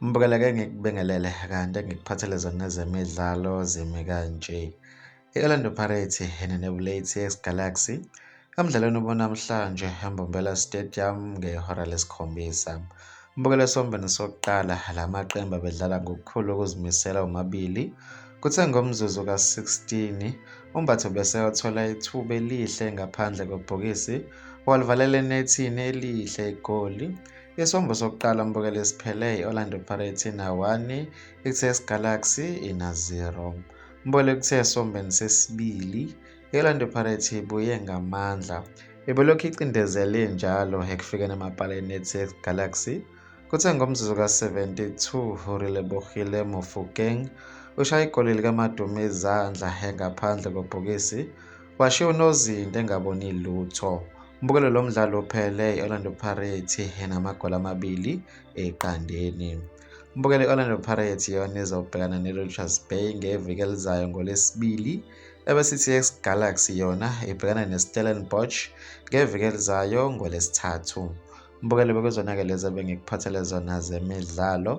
Mbukela ke ngikubingelele kanti ngikuphathele zona zemidlalo zimi kanje. I-Orlando Pirates ihenene Blades Galaxy Emdlalweni obonamhlanje eMbombela Stadium ngehora lesikhombisa umbukelo esombeni sokuqala la maqembu abedlala ngokukhulu ukuzimisela omabili kuthe ngomzuzu ka-16 umbatho bese othola ithuba elihle ngaphandle kwebhokisi walivalela enethini elihle igoli isombo sokuqala umbukelo esiphele i-orlando pirates inawani i-ts galaxy ina-0 umbukelo kuthe esombeni sesibili I-Orlando Pirates ibuye ngamandla ibelokhu icindezele njalo ekufikeni emapaleni neTX Galaxy kuthe ngomzuzu ka-72 uRelebohile Mofokeng ushaye igoli likaMaduma izandla engaphandle kobhokisi washiya unozinti engaboni lutho umbukelo lo mdlalo uphele i-orlando pirates enamagoli amabili eqandeni umbukelo i-orlando pirates yona izobhekana ne-richards bay ngeviki elizayo ngolwesibili Ebese iTS Galaxy yona ibhekana neStellenbosch ngeviki elizayo ngoLwesithathu. Mbukeli bekuzona-ke lezi ebengikuphathele zona zemidlalo.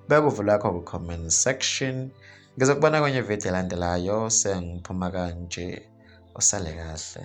Bekuvulwa kho ku-comment section. Ngizokubona kwenye ividiyo elandelayo sengiphuma kanje. Usale kahle.